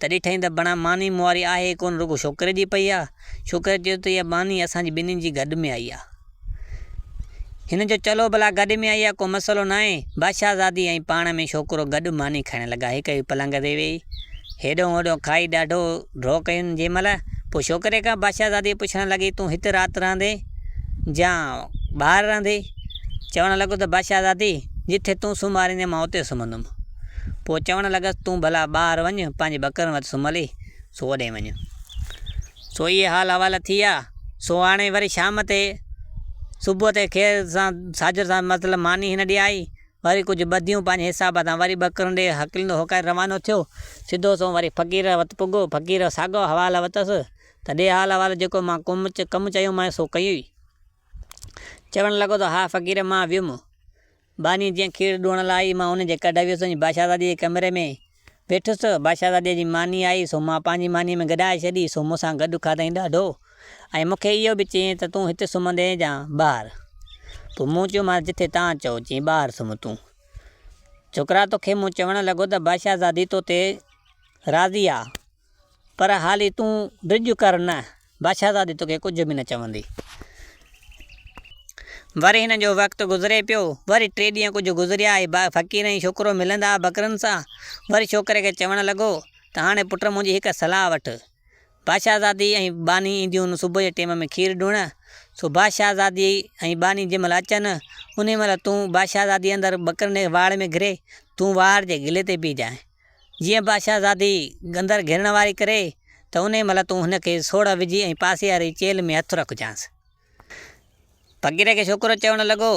A: تڏهن ٺهين ته بڻا ماني مون واري آهي ئي ڪونه رڳو شوڪري جي پئي آ. شوڪري چيو ته اها ماني اسان جي ٻنهين جي گڏ ۾ آئي آ. هن چيو چلو ڀلا گڏ ۾ آئي آ ڪو مسئلو ناهي. بادشاهه زادي ۽ پاڻ ۾ شوڪرو گڏ ماني کائڻ لڳا هڪ هڪ پلنگ تي ويهي هيڏهون هوڏهون کائي ڏاڍو ڍو ڪيون جنهن مهل پوء شوڪري کان بادشاهه زادي پڇڻ لڳي تون هت رات رهندين جا ٻاهر رهندين چوڻ لڳو ته بادشاهه زادي جتي تون سمهاريندين مان اتي سمهندم. پوء چوڻ لڳس، تون ڀلا ٻاهر وڃ، پنهنجي ٻڪرن وٽ سمهلي، سو اوڏي وڃ. سو اهي حال احوال ٿي ويا. سو هاڻي وري شام تي، صبح تي خير سان ساجر سان مطلب ماني هن ڏي آئي، وري ڪجهه ٻڌيون پنهنجي حساب سان، وري ٻڪرن ڏي هڪليندو هوڪاري روانو ٿيو، سڌو سنئون وري فقير وٽ پڳو، فقير ساڳو حوال وتس ته ڏي حال احوال جيڪو مان ڪم چيومانء سو ڪيئي. چوڻ لڳو ته ها فقير مان ويم. ٻانهي جيئن کير ڏوئڻ لاء آئي، مان ان جي ڪڍ ويس وڃي بادشاهزاديء جي ڪمري ۾ ويٺس. بادشاهزاديء جي ماني آئي، سو مان پنهنجي مانيء ۾ گڏائي ڇڏي، سو مون سان گڏ کاڌائين ڏاڍو ۽ مون کي اهو به چيائين ته تون هت سمهندين يا ٻاهر؟ پوء مون چيومانس جتي توهان چئو، چيائين ٻاهر سمهه تون، ڇوڪرا توکي مون چوڻ لڳو ته بادشاهزادي تو تي راضي آ. پر حالي تون ڊڄ ڪر نه، بادشاهزادي توکي ڪجهه به نه چوندي. وري هن جو وقت گذري پيو. وري ٽي ڏينهن ڪجهه گذريا ۽ ٻئا فقير ۽ ڇوڪرو ملندا ٻڪرين سان. وري ڇوڪري کي چوڻ لڳو ته هاڻي پٽ منهنجي هڪ صلاح وٺ. بادشاهزادي ۽ ٻانهي اينديون صبح جي ٽيم ۾ کير ڏيڻ. سو بادشاهزادي ۽ ٻانهي جنهن مهل اچن، انهي مهل تون بادشاهزادي اندر ٻڪرين جي واڙ ۾ گهري، تون واڙ جي گلي تي بيهجانء. جيئن بادشاهه زادي گندر گهرڻ واري ڪري ته انهيء مهل تون هن کي سوڙهه وجهي ۽ پاسي واري چيلهه ۾ هٿ رکجانس. فقير کي ڇوڪرو چوڻ لڳو،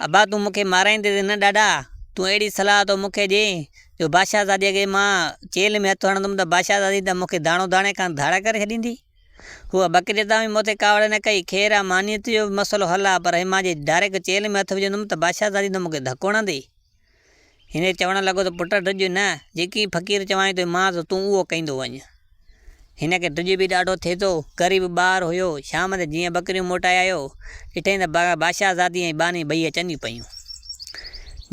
A: ابا تون مون کي مارائيندين ته نه ڏاڏا، تون اهڙي صلاح ٿو مون کي ڏين جو بادشاهه زاديء کي مان چيلهه ۾ هٿ هڻندم ته بادشاهه زادي ته مون کي داڻو داڻي کان ڌاڙ ڪري ڇڏيندي. هوء بقريت تان به مون تي ڪاوڙ نه ڪئي. خير آ مانيت جو به مسئلو حل آ، پر هي مان جي ڊائريڪٽ چيلهه ۾ هٿ وجهندم ته بادشاهه زادي ته مون کي ڌڪو هڻندي. هن چوڻ لڳو ته پٽ ڊڄ نه، جيڪي فقير چوائين توهين مان ته تون اهو ڪيندو وڃ. هن کي ڊڄ به ڏاڍو ٿئي ٿو، غريب ٻار هيو، شام تي جيئن ٻڪريون موٽائي آيو، ڏٺائين ته باشاهزادي ۽ ٻانهي ٻئي اچن پيون.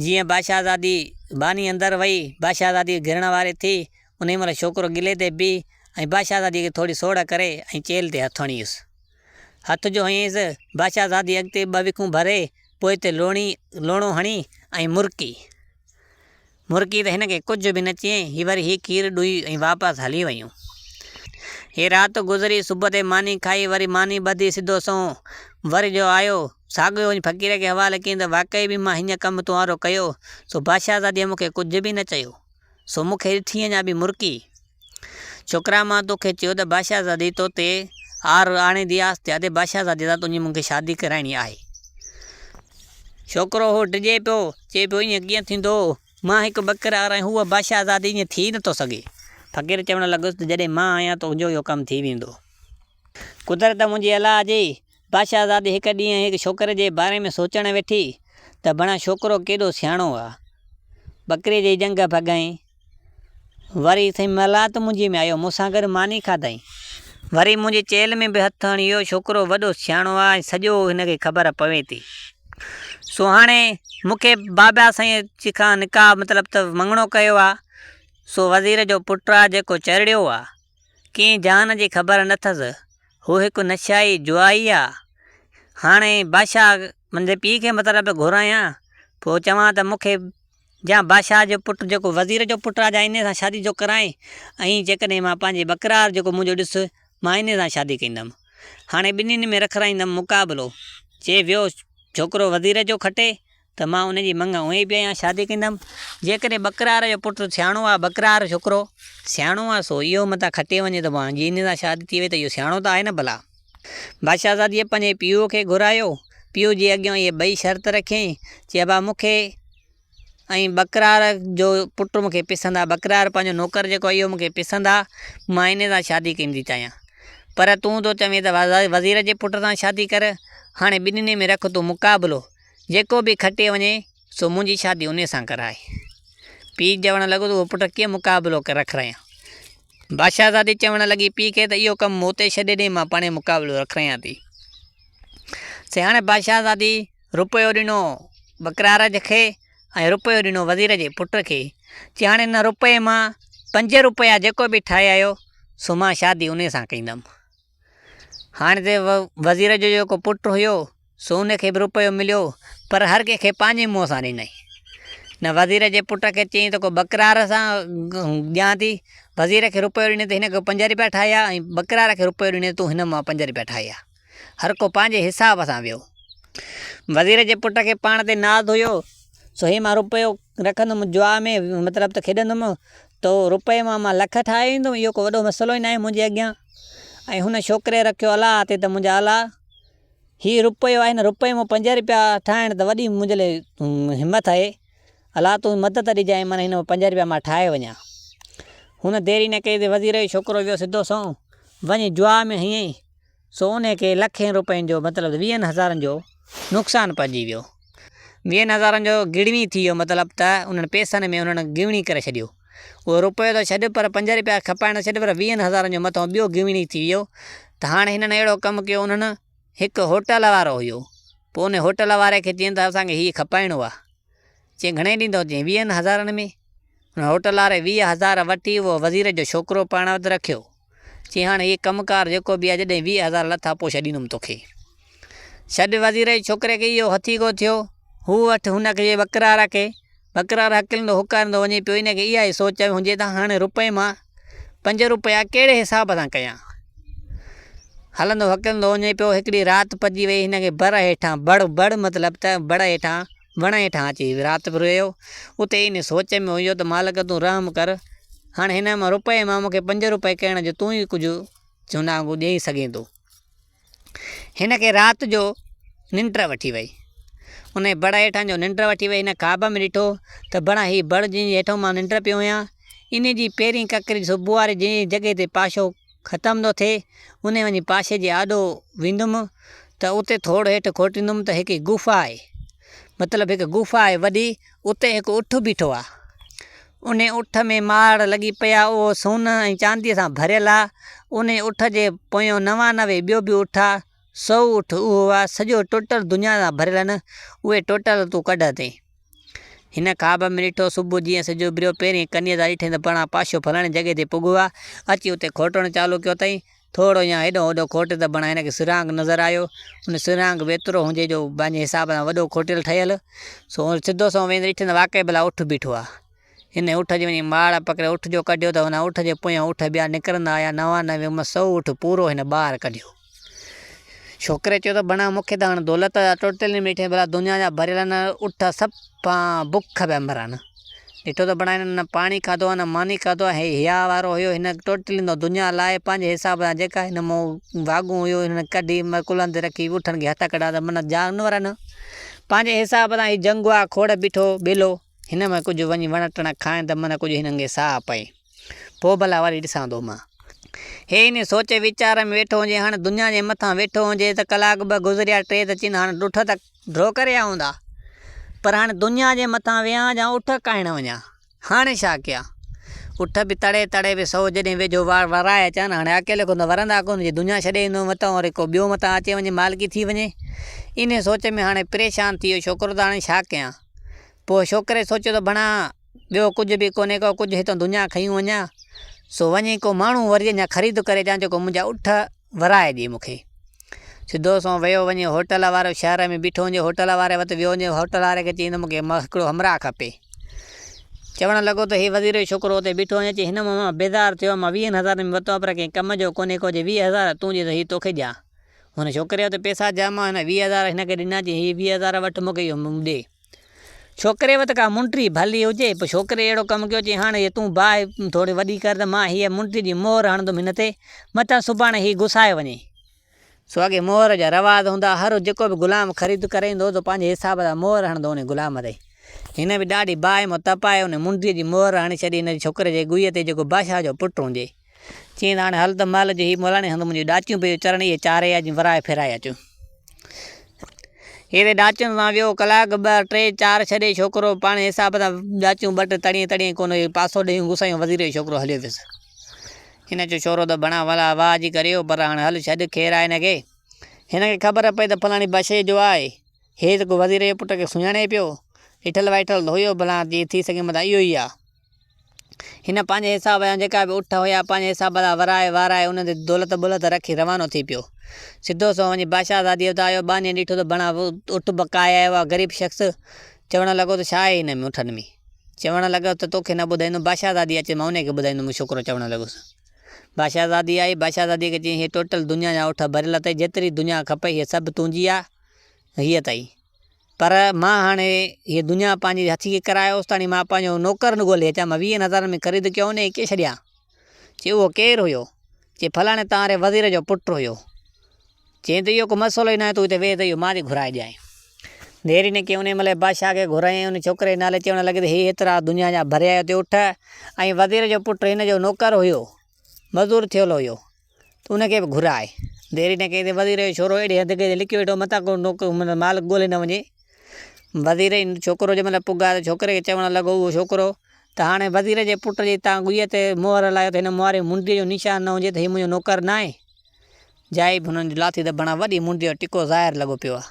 A: جيئن باشاهزادي، ٻانهي اندر وئي، باشاهزادي کي گرڻ واري ٿي، انهي مهل ڇوڪرو گلي تي بيهي ۽ باشاهزادي کي ٿوري سوڙهه ڪري ۽ چيلهه تي هٿ هڻيس. هٿ جو هنئينز بادشاهه زادي اڳتي ٻه وکون ڀري، پوء تي لوڻي، لوڻو، هڻي ۽ مرڪي. مرڪي ته هن کي ڪجهه به نه چيائين، هي وري هي کير ڏوهي ۽ واپس هلي ويون. هي رات گذري، صبح تي ماني کائي، وري ماني ٻڌي سڌو سنئون. وري جو آيو، ساڳيو وڃي فقير کي حوالي ڪيائين ته واقعي به مان هيئن ڪم تون آرو ڪيو، سو بادشاهه زاديء مون کي ڪجهه به نه چيو، سو مون کي ڏٺينء اڃا به مرڪي. ڇوڪرا مان توکي چيو ته بادشاهه زادي تو تي عار آڻي ڌي آس ٿيا ٿي بادشاهه زادي سان تنهنجي مون کي شادي ڪرائڻي آهي. ڇوڪرو هو ڊڄي پيو چئي پيو ائين ڪيئن ٿيندو مان هڪ ٻڪر عار آهيان هوء بادشاهه زادي ائين ٿي نه ٿو سگهي. فقير چوڻ لڳس ته جڏهن مان آهيان تنهنجو اهو ڪم ٿي ويندو. قدرت منهنجي الا جي بادشاهه زادي هڪ ڏينهن هڪ ڇوڪري جي باري ۾ سوچڻ ويٺي ته بڻا ڇوڪرو ڪيڏو سياڻو آ ٻڪري جي جنگهه ڀڳائين. وري سائين ملات منهنجي ۾ آيو، مون سان گڏ ماني کاڌائين. وري منهنجي چيلهه ۾ به هٿ هڻي اهو ڇوڪرو وڏو سياڻو آ ۽ سڄو هن کي خبر پوي ٿي. سو هاڻي مون کي بابا سائين جي کان نڪاح مطلب ته مڱڻو ڪيو آ. سو وزير جو پٽ آ جيڪو چرڙيو آ. ڪنهن جهان جي خبر نه ٿس. هو هڪ نشائي جوئائي آ. هاڻي بادشاهه منهنجي پيء کي مطلب گهرايان پوء چوان ته مون کي جا بادشاهه جو پٽ جيڪو وزير جو پٽ آ جا انهيء سان شادي جو ڪرانء ۽ جيڪڏهن مان پنهنجي بقرار جيڪو منهنجو ڏس مان انهيء سان شادي ڪندم. هاڻي ٻنهين ۾ رکرائيندم مقابلو، جي ويو ڇوڪرو وزير جو کٽي ته مان ان جي منڱ هونء ئي پيا يا شادي ڪندم، جيڪڏهن بقرار جو پٽ سياڻو آ بقرار ڇوڪرو سياڻو آ سو اهو متان کٽي وڃي ته پوء هاڻ جي انهيء سان شادي ٿي وئي ته اهو سياڻو ته آهي نه ڀلا! بادشاهزاديء پنهنجي پيء کي گهرايو. پيء جي اڳيان اهي ٻئي شرط رکيائين، چي ابا مون کي ۽ بڪرار جو پٽ مون کي پسند آ. بڪرار پنهنجو نوڪر جيڪو آ، اهو مون کي پسند آ. مان انهيء سان شادي ڪرڻ ٿي چاهيان. پر تون ٿو چوين ته وزير جي پٽ سان شادي ڪر. هاڻي ٻنهي ۾ رک تون مقابلو. جيڪو به کٽي وڃي. سو منهنجي شادي انهيء سان ڪرائي. پيء چوڻ لڳو ته اهو پٽ ڪيئن مقابلو ڪري رکرائيان. بادشاهزادي چوڻ لڳي پيء کي ته اهو ڪم مون تي ڇڏي ڏي مان پاڻهي مقابلو رکرائيان ٿي. سياڻي بادشاهزادي رپيو ڏنو ٻڪرار کي ۽ رپيو ڏنو وزير جي پٽ کي. چي هاڻي ان رپئي مان پنج رپيا جيڪو به ٺاهي آيو سو مان شادي انهيء سان ڪندم. هاڻي ته وزير جو جيڪو پٽ هيو سو ان کي به روپيو مليو پر هر ڪنهن کي پنهنجي منهن سان ڏنائين. نه وزير جي پٽ کي چيائين ته ڪو ٻڪرار سان ڏيان ٿي، وزير کي روپيو ڏني ته هن کي پنج روپيا ٺاهيا ۽ ٻڪرار کي روپيو ڏني ته تون هن مان پنج روپيا ٺاهيا. هر ڪو پنهنجي حساب سان ويو. وزير جي پٽ کي پاڻ تي ناز هيو سو هي مان روپيو رکندم جوا ۾ مطلب ته کيڏندم تو روپئي مان مان لک ٺاهي ايندم اهو ڪو وڏو مسئلو ئي ناهي منهنجي اڳيان ۽ هن ڇوڪري رکيو الاء تي ته منهنجا الاء هي روپيو آهي نه روپئي مان پنج روپيا ٺاهڻ ته وڏي منهنجي لاء همت آهي الاء تون مدد ڏجانء مان هن پنج روپيا مان ٺاهي وڃان هن ديري نه ڪئي ته وزير جو ڇوڪرو ويو سڌو سنئون وڃي جوا ۾ هنئين سونهن کي لکين روپين جو مطلب ويهن هزارن جو نقصان پهچي ويو. ويهن هزارن جو گڙوي ٿي ويو مطلب ته انهن پئسن ۾ انهن گويڻي ڪري ڇڏيو. اهو روپيو ته ڇڏ پر پنج روپيا کپائڻ ته ڇڏ پر ويهن هزارن جو مٿانهون ٻيو گويڻي ٿي ويو ته هاڻ هنن اهڙو ڪم ڪيو انهن هڪ هوٽل وارو هيو پوء انهي هوٽل واري کي چين ته اسان کي هي کپائڻو آ چين گهڻي ڏيندو چين ويهن هزارن ۾ انهن هوٽل واري ويهه هزار وٺي اهو وزير جو ڇوڪرو پاڻ وٽ رکيو. چي هاڻ هي ڪم ڪار جيڪو به آهي جڏهن ويهه هزار لٿا پوء ڇڏيندم توکي. ڇڏ وزير جي ڇوڪري کي اهو هٿي ڪو ٿيو. هو اٺ هن کي وڪرا رکي. وڪرار هڪلندو هڪاريندو وڃي پيو هن کي اها ئي سوچ آئي هجي ته هاڻ روپئي مان پنج روپيا ڪهڙي حساب سان ڪيان. هلندو هڪلندو وڃي پيو هڪڙي رات پڄي وئي هن کي بڙ هيٺان، بڙ، بڙ مطلب ته بڙ هيٺان، وڻ هيٺان اچي رات به رهيو. اتي ئي ان سوچ ۾ هيو ته مالڪ تون رحم ڪر، هاڻ هن مان روپئي مان مون کي پنج روپئي ڪهڻ جو تون ئي ڪجهه چوندا وانگو ڏيئي سگهين ٿو. هن کي رات جو ننڊ وٺي وئي. ان کي بڙ هيٺان جو ننڊ وٺي وئي. هن خواب ۾ ڏٺو ته بڻ هي بڙ جنهن جي هيٺان مان ننڊ پيو هنيان، انهي جي پهرين ڪڪري صبح واري جنهن جي جڳهه تي پاشو، ختم ٿو ٿئي، انهي وڃي پاشي جي آڏو ويندم ته اتي ٿوڙ هيٺ کوٽيندم ته هڪ غوفا آهي، مطلب هڪ غوفا آهي وڏي، اتي هڪ اٺ بيٺو آ، انهي اٺ ۾ ماڙ لڳي پئي آ، اهو سون ۽ چاندي سان ڀريل آ، انهي اٺ جي پويان نوانوي ٻيو به اٺ آ، سو اٺ اهو آ سڄو ٽوٽل دنيا سان ڀريل آ نه، اهي ٽوٽل تون ڪڍ اتي. هن خواب ۾ ڏٺو صبح جيئن سج اڀريو پهرين ڪنيز آ ڏٺائين ته پرڻا پاشو فلاڻي جڳهه تي پڳو آ، اچي اتي کوٽڻ چالو ڪيو ٿئي، ٿورو يا هيڏانهن هوڏانهن کوٽي ته پرڻا هن کي سرهاڱ نظر آيو، ان سرهاڱ به ايترو هونجي جو پنهنجي حساب سان وڏو کوٽيل ٺهيل، سو سڌو سنئون ويندي ڏٺائين ته واقعي ڀلا اٺ بيٺو آ. هن اٺ جي وڃي ماڙ پڪڙي اٺ جو ڪڍيو ته ان اٺ جي پويان اٺ ٻيا نڪرندا آيا، نوانوي مان سو اٺ پورو هن ٻاهر ڪڍيو. ڇوڪري چيو ته بڻا مون کي ته هاڻ دولت جا ٽوٽل ئي ميٺي ڀلا دنيا جا ڀريل آهن اٺ سڀ پان بک پيا مران. ڏٺو ته بڻا هنن نه پاڻي کاڌو آهي نه ماني کاڌو آهي هي هيا وارو هيو هن ٽوٽل اندر دنيا لائي پنهنجي حساب سان جيڪا هن مون واڳون هيو هنن ڪڍي مڪل هنڌ رکي اٺن کي هٿ ڪڍا ته من جانورن پنهنجي حساب سان هي جنگوا کوڙ بيٺو ٻيلو. هن مان ڪجهه وڃي وڻ ٽڻ کائين ته من ڪجهه هن انگي ساهه پئي. پوء ڀلا وري ڏسان ٿو مان. هي انهي سوچ ويچار ۾ ويٺو هجي هاڻ دنيا جي مٿان ويٺو هجي ته ڪلاڪ ٻه گذريا ٽي ته چين هاڻ ڏٺ ته ڍو ڪري آئون ٿا پر هاڻ دنيا جي مٿان ويهان جا اٺ ڪاهڻ وڃان هاڻي ڇا ڪيان اٺ به تڙي تڙي به سو جڏهن ويجهو وار ورائي اچان هاڻي اڪيلو ڪونه ورندا ڪونه جي دنيا ڇڏي ايندو متان وري ڪو ٻيو متان اچي وڃي مالڪي ٿي وڃي انهي سوچ ۾ هاڻي پريشان ٿي ويو ڇوڪرو ته هاڻي ڇا ڪيان. پوء ڇوڪري سوچيو ته ڀڻا ٻيو ڪجهه به ڪونهي ڪو ڪجهه هتان دنيا کيون وڃان، سو وڃي ڪو ماڻهو وري اڃا خريد ڪري اچان جيڪو منهنجا اٺ ورائي ڏي مون کي. سڌو سنئون ويو وڃي هوٽل وارو شهر ۾ بيٺو هوندي هوٽل واري وٽ ويو هوندي هوٽل واري کي چيائين ته مون کي هڪڙو همراهه کپي. چوڻ لڳو ته هي وزير جو ڇوڪرو اتي بيٺو هوندي چي هن مون مان بيزار ٿيو آهيان مان ويهن هزارن ۾ ورتو آهيان پر ڪنهن ڪم جو ڪونهي ڪو چي ويهه هزار تون ڏي ته هي توکي ڏيان. ھن ڇوڪري وٽ پئسا جام ھئا، ھن ويھه ھزار ھن کي ڏنا چيائين ھي ويھه ھزار وٺ مون کي اھو ڏي. ڇوڪري وٽ ڪا منٽري ڀلي ھجي پر ڇوڪري اھڙو ڪم ڪيو چيائين ھاڻ تون باھه ٿوري وڏي ڪر ته مان ھيء منٽري جي مھر ھڻندم ھن تي متان سڀاڻي ھي گسائي وڃي. سو اڳي مھر جا رواج ھوندا ھئا، ھر جيڪو به غلام خريد ڪرائيندو ھو تو پنھنجي حساب سان مھر ھڻندو ان غلام تي. ھن به ڏاڍي باھه مان تپائي ان منٽري جي مھر ھڻي ڇڏي ھن ڇوڪري جي ڳويء تي جيڪو بادشاھه جو پٽ ھجي. چين هاڻي هل ته مهل جو هي ملاڻي هنڌ منهنجي ڏاچيون پيو چرڻي هي چاري اچ ورائي ڦيرائي اچون. هيڏي ڏاچين سان ويو ڪلاڪ ٻه ٽي چار ڇڏي ڇوڪرو پاڻهي حساب سان ڏاچيون ٻه ٽي تڙيين تڙيين ڪونه هي پاسو ڏيون گسايون وزير جو ڇوڪرو هليو ويس هن چيو ڇورو ته بڻا ولا واهه جي ڪريو پر هاڻي هل ڇڏ خير آهي هن کي هن کي خبر پئي ته فلاڻي بشي جو آهي هي ته ڪو وزير جي پٽ کي سڃاڻي پيو ڏٺل وائٺل ته هيو ڀلا جي ٿي سگهي متان اهو ئي آهي. هن پنهنجي حساب جا جيڪا به اٺ هيا، پنهنجي حساب سان ورائي وارائي، انهن تي دولت ٻولت رکي روانو ٿي پيو. سڌو سنئون وڃي بادشاهه زادي وٽ آيو. ٻانهيء ڏٺو ته بڻا اٺ بکائي آيو آهي. غريب شخص چوڻ لڳو ته ڇا آهي هن ۾ اٺن ۾؟ چوڻ لڳو ته توکي نه ٻڌائيندم، بادشاهه زادي اچي مان انهيء کي ٻڌائيندم، مون ڇوڪرو چوڻ لڳس. بادشاهه زادي آئي، بادشاهه زاديء کي چيائين، هيء ٽوٽل دنيا جا اٺ ڀريل اٿئي، جيتري دنيا کپئي هيء سڀ تنهنجي آهي، هيء اٿئي. پر مان هاڻي هيء دنيا پنهنجي هٿي کي ڪرايو اوستاڻي مان پنهنجو نوڪر نه ڳولي اچان مان ويهن هزارن ۾ خريد ڪيو هو نه ايڪي ڇڏيان. چي اهو ڪير هيو؟ چي فلاڻي توهان ري وزير جو پٽ هيو. چيائين ته اهو ڪو مسئلو ئي ناهي تون هتي ويهه ته اهو مان ٿي گهرائي ڏيانء. ديري نه ڪيائين انهيء مهل بادشاهه کي گهرايائين ۽ ان ڇوڪري جي نالي چوڻ لڳي ته هي هيترا دنيا جا ڀريا هيا اتي اٺ ۽ وزير جو پٽ هن جو نوڪر هيو. مزور ٿيل هيو تو ان کي به گهرائي، ديري نه ڪئي ته وزير جو ڇورو اهڙي حد تي لڪي ويٺو متان ڪو مالڪ ڳولي نه وڃي، وزير جي ڇوڪرو جنهن مهل پڳا ته ڇوڪري کي چوڻ لڳو اهو ڇوڪرو ته هاڻي وزير جي پٽ جي تان گئي تي مهر هلايو ته هن مهر جي منڊيء جو نشان نه هجي ته هي منهنجو نوڪر ناهي، جائي به هن لاٿي ته بڻا وڏي منڊيء جو ٽڪو ظاهر لڳو پيو آهي،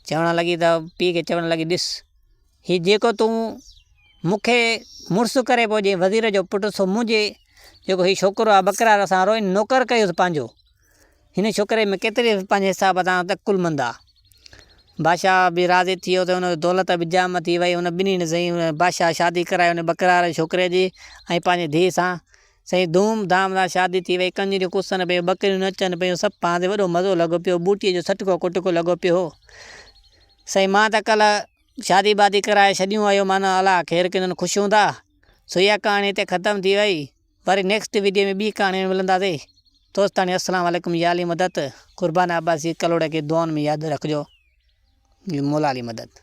A: چوڻ لڳي ته پيء کي چوڻ لڳي ڏس! هي جيڪو تون مون کي مڙس ڪري پيو ڏئين وزير جو پٽ سو منهنجي جيڪو هي ڇوڪرو آهي ٻڪرار اسان وارو هن نوڪر ڪيوس پنهنجو. هن ڇوڪري ۾ ڪيتري پنهنجي حساب سان ته عقلمند آ. بادشاهه به راضي ٿي ويو ته هن دولت به جام ٿي وئي هن ٻنهي ۾ سائين بادشاهه شادي ڪرائي هن ٻڪرار جي ڇوڪري جي ۽ پنهنجي ڌيء سان سائين ڌوم ڌام سان شادي ٿي وئي ڪنجريون ڪسن پيون ٻڪريون نچن پيون سڀ پاڻ تي وڏو مزو لڳو پيو بوٽي جو سٽڪو ڪٽڪو لڳو پيو هو سائين مان ته ڪلهه شادي بادي ڪرائي ڇڏيون اهو معنيٰ الا خير ڪندن خوش هوندا سو اها ڪهاڻي هتي ختم ٿي وئي وري نيڪسٽ ويڊيو ۾ ٻي ڪهاڻي ۾ ملنداسي دوستاڻي السلام عليڪم يا علي مدد قربان عباسي ڪلهوڙي کي دعائن ۾ ياد رکجو مولا علي مدد.